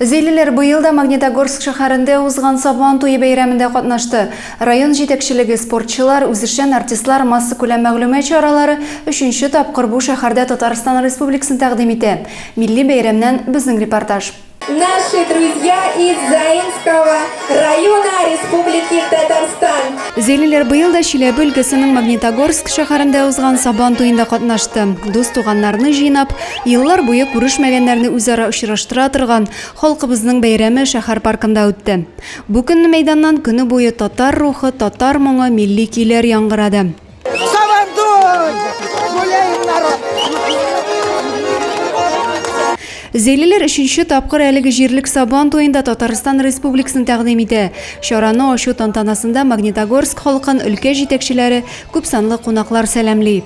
Зилиләр быел да Магнитогорск шәһәрендә узган Сабан туе бәйрәмендә катнашты. Район җитәкчелеге, спортчылар, үзешчән артистлар массакүләм мәгълүмат чаралары өченче тапкыр бу шәһәрдә Татарстан Республикасын тәкъдим итә. Милли бәйрәмнән безнең репортаж. Наши друзья из Заинского района Республики Татарстан. Зилиләр быел да Чиләбе өлкәсенең Магнитогорск шәһәрендә узган Сабан туенда катнашты. Дус-туганнарны җыйнап, Еллар буе күрешмәгәннәрне үзара очраштыра торган халкыбызның бәйрәме шәһәр паркында үтте. Бу көнне мәйданнан көне буе татар рухы, татар моңы, милли көйләр яңгырады. Зәйлеләр өченче тапкыр әлеге җирлек Сабан туен да Татарстан Республикасын тәкъдим итә. Чараны ачу тантанасында Магнитогорск халкын өлкә җитәкчеләре, күпсанлы кунаклар сәламли.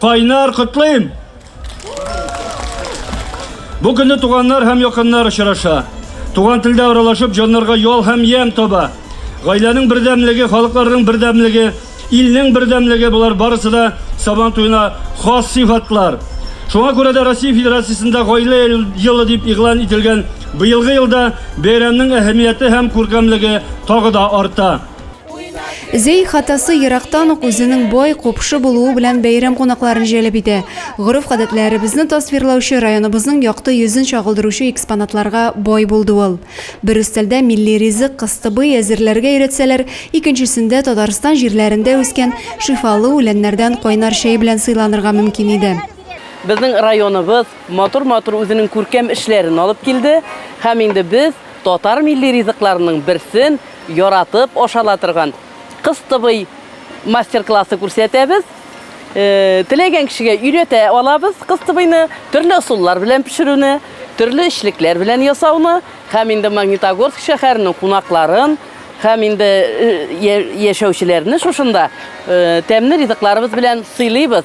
Кайнар котлыйм! Бу көнне туганнар һәм якыннар очраша. Туган телдә аралашып, җаннарга ял һәм ямь таба. Гаиләнең бердәмлеге, халыкларның бердәмлеге, илнең бердәмлеге булар барысы да Сабан туена хас сыйфатлар. Шуңа күрә дә Россия Федерациясендә гаилә елы дип игълан ителгән быелгы елда бәйрәмнең әһәмияте һәм күркәмлеге тагы да арта. Зәй хатасы ерактан ук үзенең бай, купшы булуы белән бәйрәм кунакларын җәлеп итә. Гореф-гадәтләребезне тасвирлаучы, районыбызның якты йөзен чагылдыручы экспонатларга бай булды ул. Бер өстәлдә милли ризык, кыстыбый, әзерләргә өйрәтсәләр, икенчесендә Татарстан җирләрендә үскән шифалы үләннәрдән кайнар чәй белән сыйланырга мөмкин иде. Безнең районыбыз матур-матур үзенең күркәм эшләрен алып килде һәм инде без Татар милли ризыкларының берсен яратып ашала торган кыстыбый мастер-классы күрсәтәбез. Теләгән кешегә өйрәтә алабыз кыстыбыйны, төрле ысуллар белән пешерүне, төрле эчлекләр белән ясауны һәм инде Магнитогорск шәһәренең кунакларын һәм инде яшәүчеләрне шушында тәмле ризыкларыбыз белән сыйлыйбыз.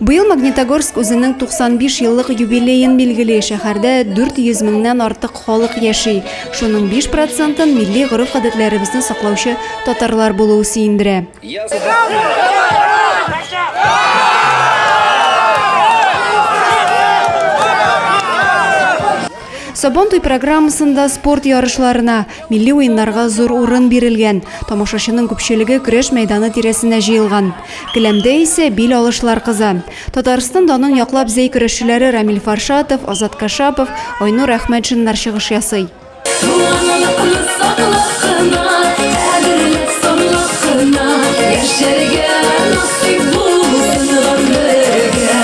Быел Магнитогорск үзенең 95 еллык юбилеен билгели, шәһәрдә 400 меңнән артык халык яши, шуның 5 процентын милли гореф-гадәтләребезне саклаучы татарлар булуы сөендерә. Сабантуй программасында спорт ярышларына, Милли уеннарга зур урын бирелгән, тамашачының күпчелеге көрәш мәйданы тирәсенә җыелган. Келәмдә исә бил алышлар кыза. Татарстан данын яклап зәй көрәшчеләре Рамил Фаршатов, Азат Кашапов, Айнур Әхмәтшиннар чыгыш ясый. Туганлыкны саклап кына, кадерләп санлап кына, яшәргә насыйп булсын гомергә.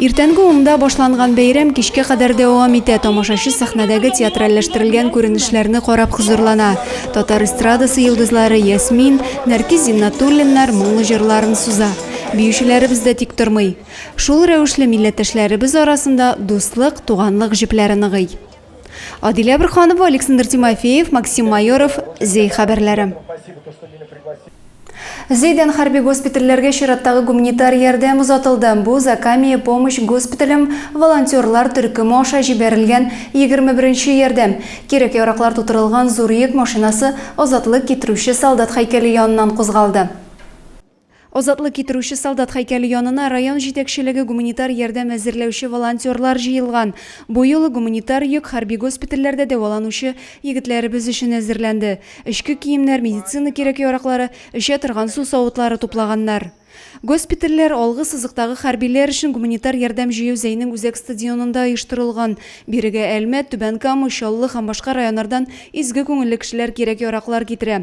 Иртәнге унда башланган бәйрәм кичкә кадәр дәвам итә. Тамашачы сәхнәдәге театральләштерелгән күренешләрне карап хозурлана. Татар эстрадасы йолдызлары Ясмин, Нәркис Зиннатуллиннар моңлы җырларын суза. Биючеләребез дә тик тормый. Шул рәвешле милләттәшләребез арасында дуслык, туганлык җепләре ныгый. Адилә Әберханова, Александр Тимофеев, Максим Майоров, Зей хәбәрләре. Зейдән хәрби госпитальләргә чираттагы гуманитар ярдәм озатылды. Бу Закамия помощь госпиталем волонтерлар төркеме аша җибәрелгән 21 нче ярдәм. Кирәк-яраклар тутырылган зур йөк машинасы азатлык китерүче солдат һәйкәле яныннан кузгалды. Азатлык китерүче солдат һәйкәле янына район җитәкчелеге гуманитар ярдәм әзерләүче волонтерлар җыелган. Бу юлы гуманитар йөк хәрби госпитальләрдә дәваланучы егетләребез өчен әзерләнде. Эчке киемнәр, медицина кирәк-яраклары, эчә торган су савытлары туплаганнар. Госпитальләр, алгы сызыктагы хәрбиләр өчен гуманитар ярдәм җыю Зәйнең үзәк стадионында оештырылган. Бирегә Әлмәт, Түбән Кама, Чаллы һәм башка районнардан изге күңелле кешеләр кирәк-яраклар китерә.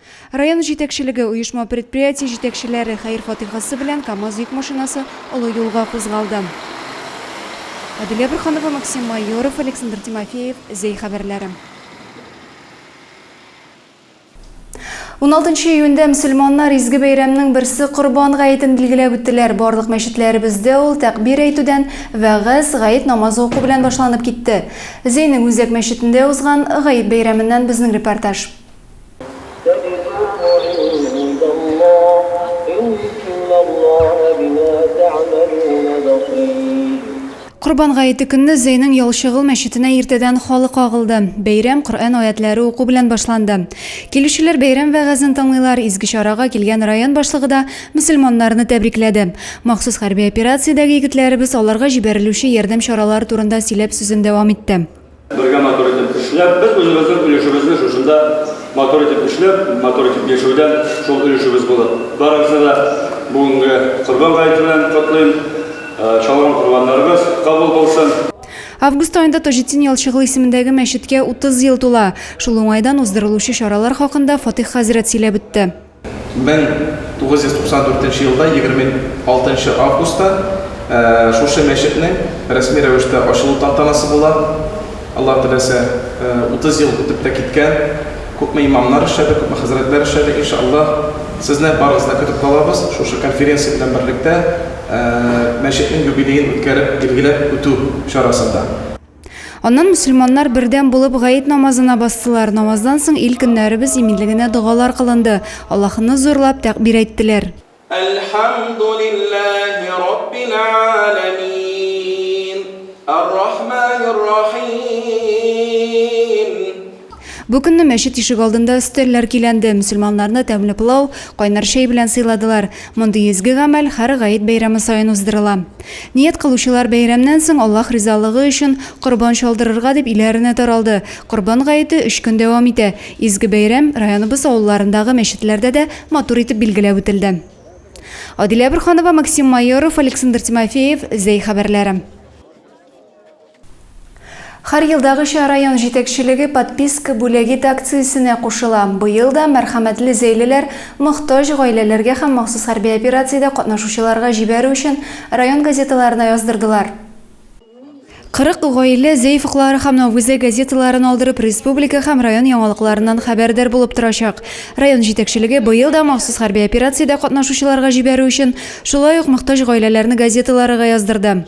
Район җитәкчелеге, оешма-предприятие җитәкчеләре хәер-фатихасы белән КАМАЗ йөк машинасы олы юлга кузгалды. Адилә Борханова, Максим Майоров, Александр Тимофеев, Зәй хәбәрләре. Уналтынчы июньдә мөселманнар изге бәйрәмнең берсе Корбан гаетен билгеләп үттеләр. Барлык мәчетләребездә ул тәкъбир әйтүдән, вәгазь, гает намазы уку белән башланып китте. Зәйнең үзәк мәчетендә узган Гает бәйрәменнән безнең репортаж. Корбан гаете көнне Зәйнең Ялчыгыл мәчетенә иртәдән халык агылды. Бәйрәм Коръән аятьләре уку белән башланды. Килүчеләр бәйрәм вәгазен тыңлыйлар, изге чарага килгән район башлыгы да мөселманнарны тәбрикләде. Махсус хәрби операциядәге егетләребез аларга җибәрелүче ярдәм чаралары турында сөйләп сүзен дәвам итте. Бергә матур итеп эшләп, без үзебезнең өлешебезне шушында матур итеп эшләп, матур итеп яшәүдән шул өлешебез булып. Барыгызны да бүгенге Корбан гаете белән котлыйм. Чалган корбаннарыбыз кабул булсын. Август аенда Таҗетдин Ялчыгыл исемендәге мәчеткә 30 ел тула. Шул уңайдан уздырылучы чаралар хакында Фатыйх хәзрәт сөйләп үтте. 1994 нче елда 26 нчы августта шушы мәчетнең рәсми рәвештә ачылу тантанасы була. Аллаһ теләсә, 30 ел үтеп тә киткән, күпме имамнар эшләде, күпме хәзрәтләр эшләде. Иншааллаһ, сезне барыгызны да көтеп калабыз, шушы конференция белән берлектә мәчетнең юбилеен үткәреп, билгеләп үтү чарасында. Аннан мөселманнар бердәм булып гаит намазына бастылар. Намаздан соң ил көннәребез иминлегенә догалар кылынды. Аллаһыны зурлап тәкъбир әйттеләр. Әлхәмдүлилләһи раббил галәмиин, ар-рахманир рахиим. Бу көнне мәчет ишегалдында өстәлләр көйләнде, мөселманнарны тәмле пылау, кайнар чәй белән сыйладылар. Мондый изге гамәл һәр гает бәйрәме саен уздырыла. Ният кылучылар бәйрәмнән соң Аллаһ ризалыгы өчен корбан чалдырырга дип өйләренә таралды. Корбан гаете өч көн дәвам итә. Изге бәйрәм районыбыз авылларындагы мәчетләрдә дә матур итеп билгеләп үтелде. Адилә Борһанова, Максим Майоров, Александр Тимофеев, Зәй хәбәрләре. Һәр елдагыча район җитәкчелеге Подписка бүләгит акциясенә кушыла. Быел да мәрхәмәтле зәйлеләр мохтаҗ гаиләләргә һәм махсус хәрби операциядә катнашучыларга җибәрү өчен район газеталарына яздырдылар. 40 гаилә Зәйф уклары һәм Новгузә газеталарын алдырып, республика һәм район яңалыкларыннан хәбәрдар булып торачак. Район җитәкчелеге быел да махсус хәрби операциядә катнашучыларга җибәрү өчен шулай ук мохтаҗ гаиләләрне газеталарыга яздырды.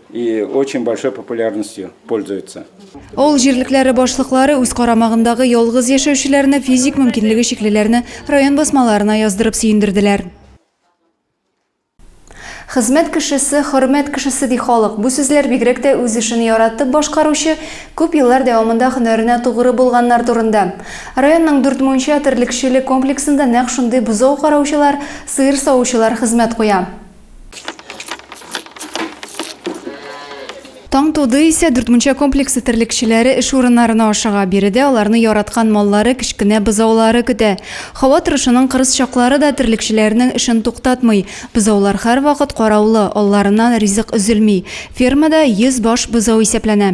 И очень большой популярностью пользуется. Авыл җирлекләре башлыклары үз карамагындагы ялгыз яшәүчеләрне, физик мөмкинлеге чиклеләрне район басмаларына яздырып сөендерделәр. Хезмәт кешесе, хөрмәт кешесе, ди халык. Бу сүзләр бигрәк тә үз эшен яратып башкаручы, күп еллар дәвамында һөнәренә тугры булганнар турында. Районның дүрт мунча терлекчелек комплексында нәкъ шундый бозау караучылар, сыер савучылар хезмәт куя. Таң туды исә Дүртмунча комплексы терлекчеләре эш урыннарына ашыга. Биредә аларны яраткан маллары, кечкенә бозаулары көтә. Һава торышының кырыс чаклары да терлекчеләрнең эшен туктатмый. Бозаулар һәрвакыт караулы, алларыннан ризык өзелми. Фермада 100 баш бозау исәпләнә.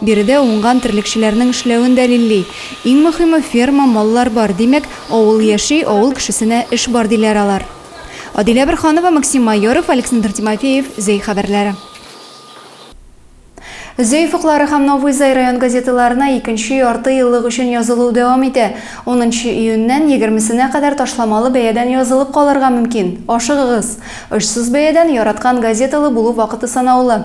Биредә уңган терлекчеләрнең эшләвен дәлилли. Иң мөхиме, ферма, маллар бар, димәк, авыл яши, авыл кешесенә эш бар, диләр алар. Адилә Борһанова, Максим Майоров, Александр Тимофеев, Зәй хәбәрләре. Зәй офыклары һәм Новый Зай район газеталарына икенче ярты еллык өчен язылу дәвам итә. Унынчы июньнән егермесенә кадәр ташламалы бәядән язылып калырга мөмкин. Ашыгыгыз! Очсыз бәядән, яраткан газеталы булу вакыты санаулы.